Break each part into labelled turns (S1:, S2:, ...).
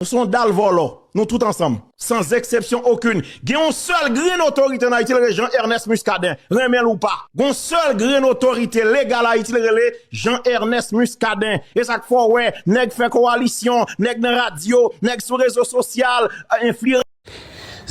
S1: Nou son dal volo, nou tout ansanm. San zeksepsyon okun. Gen yon sel grenn otorite an Ayiti l rele Jean Ernest Muscadin. Renmen l ou pa. Gon sel grenn otorite legal Ayiti l rele Jean Ernest Muscadin. E sak fè w wè nèg fè kowalisyon, nèg nan radyo, nèg sou rezo sosyal, enfliyanse.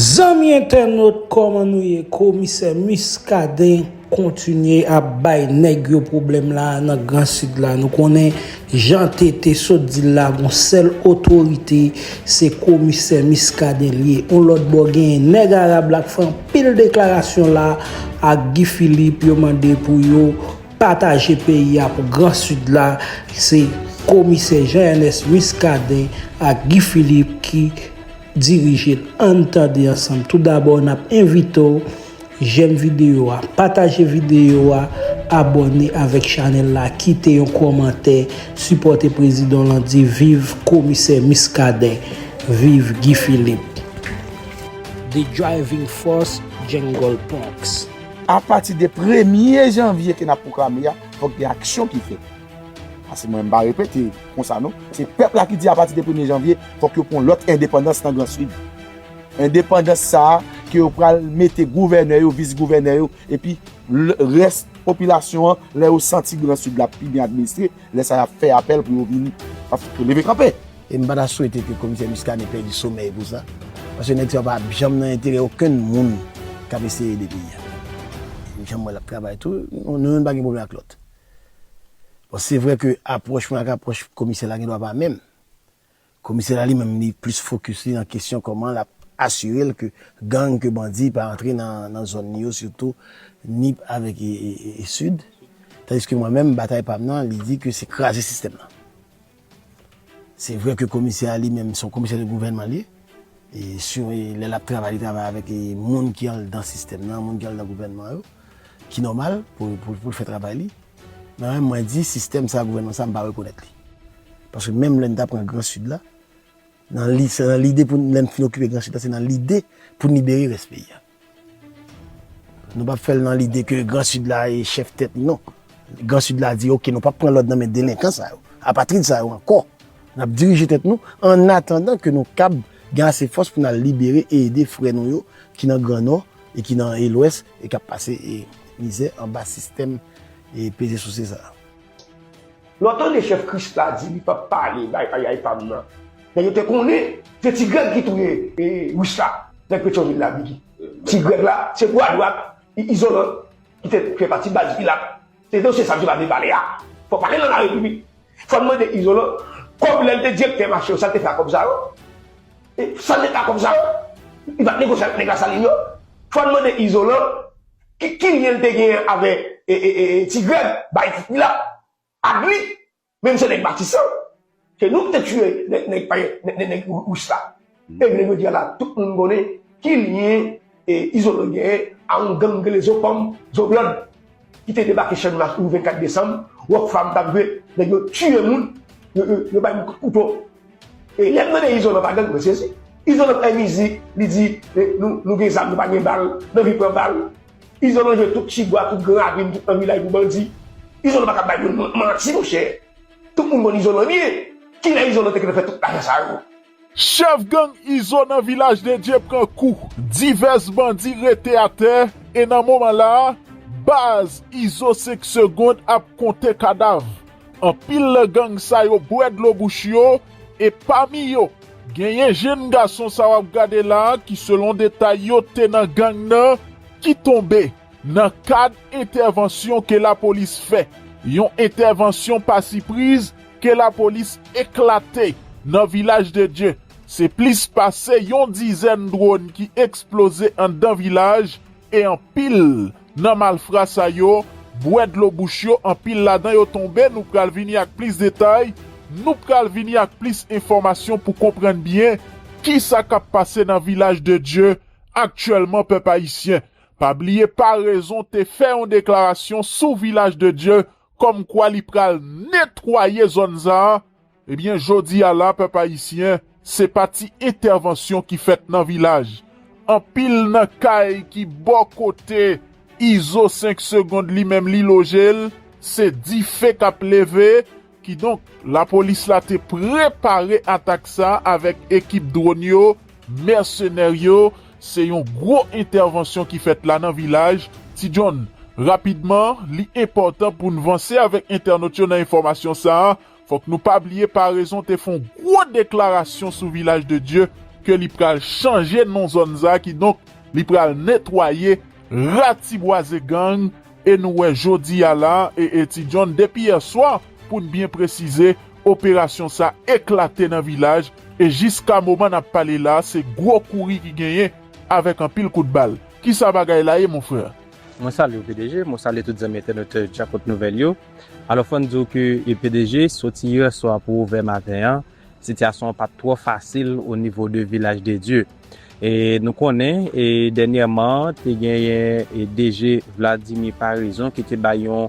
S1: Zanmi
S2: entènot kòman nou ye komisè Muscadin kontinye ap bay nèg yo pwoblèm la a nan gran sid la nou konnen jan TT sot di l la gon sèl otorite se komisè Muscadin l ye yon lòt bò genyen nèg arab la k fè anpil deklarasyon la ak Guy Philippe yo mande pou yo pataje peyi a pou gran sid la se komisè Jean Ernest Muscadin ak Guy Philippe ki dirije l ann tande ansanm tou dabò nap envite w jèm videyo a pataje videyo a abòne avèk chanèl la kite yon kòmantè sipòte prezidan lan di viv komisè miskaden viv Guy Philippe. The Driving Force Jungle Punks. Apati de
S3: premye janvye ke n ap pwoklame a, fòk gen aksyon ki fèt. Asi mwen mpa repete konsa non. Se pèp la ki di apati de premye janvye fòk yo pran lòt endepandans nan gran sid. Endepandans sa a ke yo pral mete gouvènè yo, vis gouvènè yo epi rès popilasyon an lè yo santi gran sid la pi byen administre, lè sa yap fè apèl pou yo vin leve kanpe. E mpa ta swete
S4: ke komisè Muscadin pèdi somèy pou sa. Paske nèg sa yo pa ap janm nan enterè okenn moun kap eseye ede peyi a. Janm wè lap travay tou, nou youn pa gen pwoblèm ak lòt. Bon se vre ke apwòch mwen ak apwòch komisè la gendwa pa menm. Komisè la li menm li plis fokis li nan kesyon kòman l ap asire l ke gang, ke bandi pa antre nan zòn li yo sitou Nip avèk Sid. Tandiske mwen menm batay pa m nan li di ke se kraze sistèm nan. Se vre ke komisè a li menm se yon komisè de gouvènman li ye, e si lè l ap travay li travay avèk moun ki anndan sistèm nan, moun ki anndan gouvènman yo, ki nòmal pou l fè travay li. Men menm mwen di sistèm sa, gouvènman sa m pa rekonèt li. Paske menm lè n ta pran gran sid la, nan lide pou lè n fin okipe gran sid la se nan lide pou n libere rès peyi a. Nou pap fè l nan lide ke gran sid la e chèf tèt li non. Gran sid la di ok nou pap pran lòd nan men delenkan sa yo, apatrid sa yo ankò. N ap dirije tèt nou an atandan ke nou kab gen ase fòs pou n al libere e ede frè nou yo ki nan gran nò e ki nan e lwès e k ap pase mizè anba sistèm e peze souse sa a.
S5: Lè w tande chèf Krisla di li pap pale bay payay pam nan, nèg yo te konnen se ti Grèg ki touye Rich la, nèg Petyonvil la, Bigi. Ti Grèg la, se bwa dwat Izolan ki te fè pati baz Pilat. Se dosye sa misye pa vle pale a. Fò w pale nan Larepiblik. Fò n mande Izolan kòb lè l te direktè mache yo, sa l te fè ak kòb sa yo? Sa l te fè ak kòb sa yo? Li pa t negosye ak nèg Lasalin yo? Fò n mande Izolan Ki lyen li te genyen avè ti grèg bay ti pilat ak li menm se nèg matisan se nou ki te tiye nèg panyòl nèg rous la e ble jodi a la tout moun konnen ki lyen izolo genyen a yon gang rele zo pòm zo blòd ki te debake channmas yon 24 desanm rockfam tap jwe nèg yo tiye moun yo bay moun kout kouto. E lèm tande izolan pa gang mwen sezi. Izolan bay mizik li di nou gen zam nou pa gen bal nou anvi pran bal. Izolan jwe tout tibwa tout gran avin tout nan vilaj pou bandi. Izolan paka bay moun manti monchè. Tout moun konn izolan byen. Kilè izolan te gentan fè tout lajan sa yo. Chèf gang
S6: Izo nan Vilaj de Dye pran kou, divès bandi rete atè e nan moman la a, baz Izo 5 segond ap konte kadav. Anpil nan gang sa yo bwè dlo bouch yo e pami yo genyen jenn gason sa wap gade la ki selon detay yo te nan gang nan ki tonbe nan kad entèvansyon ke lapolis fè, yon entèvansyon pa sipriz ke lapolis eklate nan Vilaj de Dye. Se plis pase yon dizèn dwòn ki eksploze anndan vilaj e anpil Nan malfra sa yo bwè dlo bouch yo anpil ladan yo tonbe nou pral vini ak plis detay nou pral vini ak plis enfòmasyon pou konprann byen kisa kap pase nan vilaj de Dye aktyèlman pèp ayisyen pa bliye parezon te fè yon deklarasyon sou vilaj de Dye kòmkwa li pral netwaye zòn sa. Ebyen jodi a la pèp ayisyen se pa ti entèvansyon ki fèt nan vilaj, anpil nan kay ki bò kote Izo 5 segond li menm li loje l se dife k ap leve, kidonk lapolis la te prepare atak sa avèk ekip dwòn yo, mèsenè yo, se yon gwo entèvansyon ki fèt la nan vilaj, Ti John, rapidman li enpòtan pou n vanse avèk entènot yo nan enfòmasyon sa Fòk nou pa bliye Paraison te fon gwo deklarasyon sou Vilaj de Dye ke li pral chanje non zòn sa ki donk li pral netwaye, ratibwaze gang e nou wè jodi a la e e Ti John depi yèswa pou n byen presize operasyon sa eklate nan Vilaj e jiska moman n ap pale la se gwo kouri ki genyen avèk anpil kout bal. Kisa bagay la ye mon frère? Mwen salye w PDG,
S7: mwen salye tout zanmi entènotè Djakout Nouvèl yo. Alò fò n di w ke pdg soti yè swa pou ovè maten an, sitiyasyon an pa t twò fasil o nivo de Vilaj de Dye. E nou konnen e dènyèman te genyen e DG Vladimir Paraison ki te bay yon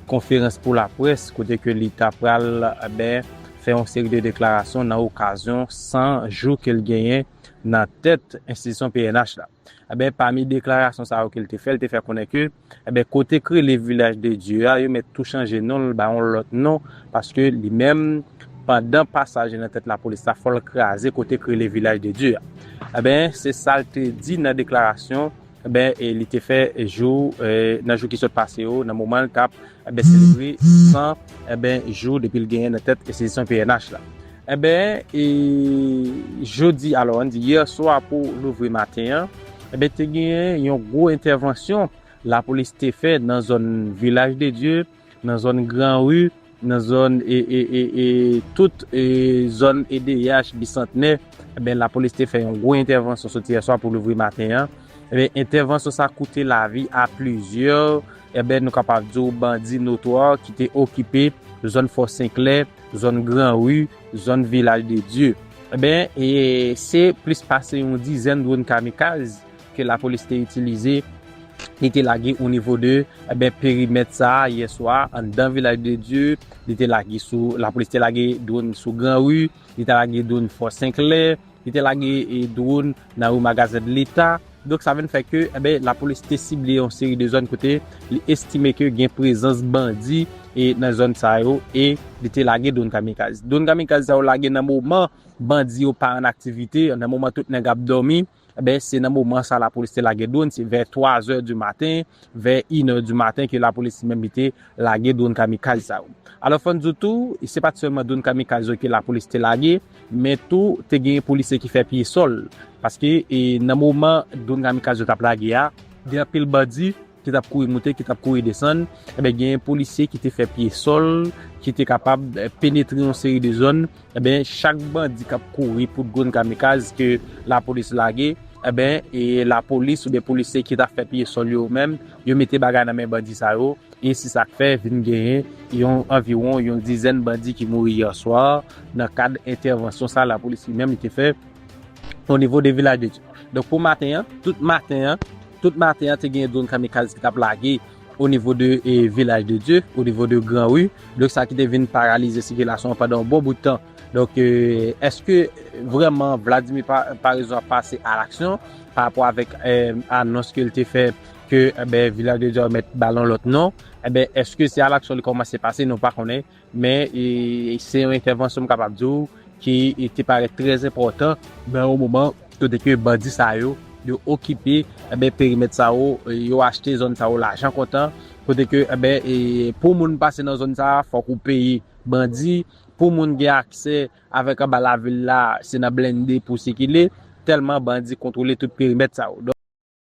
S7: konferans pou laprès kote ke li ta pral ben fè yon seri de deklarasyon nan okazyon 100 jou ke l genyen nan tèt enstitisyon pnh la. Enben, pami deklarasyon sa yo ke l te fè, l te fè konnen ke, enben, kote k rele Vilaj de Dye a, yo mèt tou chanje non l, ba yon lòt non, paske li menm, pandan pasaj li nan tèt lapolis la, fò l kraze kote k rele Vilaj de Dye a. Enben, se sa l te di nan deklarasyon, enben, li te fè jou, nan jou ki sot pase yo, nan moman l t ap. Enben selebre 100 enben jou depi l genyen nan tèt enstitisyon pnh la. Enben e jodi alò an di yè swa pou louvri maten an enben te genyen yon gwo entèvansyon lapolis te fè nan zòn Vilaj de Dye, nan zòn Gran Ri, nan zòn e e e e tout e zòn edeyach, Bisantnè enben lapolis te fè yon gwo entèvansyon soti yè swa pou louvri maten an. Enben entèvansyon sa koute lavi a plizyè. Enben nou kapab di w bandi notwa ki te okipe zòn Fò Senklè, zòn Gran Ri, zòn Vilaj de Dye. Enben, se plis pase yon dizèn dwòn kamikaz ke lapolis te itilize, li te lage o nivo de, enben, perimèt sa a yè swa a anndan Vilaj de Dye, li te lage sou, lapolis te lage dwòn sou Gran Ri, li te lage dwòn Fò Senklè, Li te lage dwon nan yon magazen leta. Donk sa vin fè ke lapolis te sible yon seri de zòn kote li estime ke gen prezans bandi nan zòn sa yo e li te lage dwon kamikaz. Dwon kamikaz sa yo lage nan moman bandi yo pa an aktivite, nan moman tout nèg ap dòmi. Se nan moman sa lapolis te lage dwon. Se vè 3 zè di maten, vè 1 è di maten ke lapolis li menm li te lage dwon kamikaz sa yo. Alò fò n di w tou, se pa t sèlman dwon kamikaz yo ke lapolis te lage. Men tou, te gen polisye ki fè pye sòl, paske nan moman dron kamikaz yo t ap lage a, gen anpil bandi ki t ap kouri moute, ki t ap kouri desann, enben gen polisye ki te fè pye sòl, ki te kapab penetre yon seri de zòn, enben chak bandi k ap kouri pou dron kamikaz ke lapolis lage, enben lapolis oubyen polisye ki t ap fè pye sòl yo menm, yo mete bagay nan men bandi sa yo, E se sa k fè vin genyen yon anviwon yon dizèn bandi ki mouri yè swa nan kad entèvansyon sa lapolis li menm li te fè o nivo de Vilaj de Dye. Donk pou maten an, tout maten an, tout maten an te genyen dwòn kamikaz ki t ap lage o nivo de Vilaj de Dye, o nivo de gran ri. Donk sa ki te vin paralize sikilasyon an pandan yon bon bout tan. Donk èske vrèman Vladimir Paraison ap pase alaksyon parapò avèk anons ke l te fè? ke enben Vilaj de Djò mèt ba lon lòt non, enben èske se a laksyon li kòmanse pase nou pa konnen, men se yon entèvansyon m kapab di w ki te parèt trè enpòtan nan yon moman kote ke bandi sa yo, yo okipe enben perimèt sa yo, yo achte zòn sa yo lajan kontan, kote ke enben pou moun pase nan zòn sa a fòk ou peye bandi, pou moun gen aksè avèk anba lavil la se nan blennde pou w sikile, tèlman bandi kontwole tout perimèt sa yo.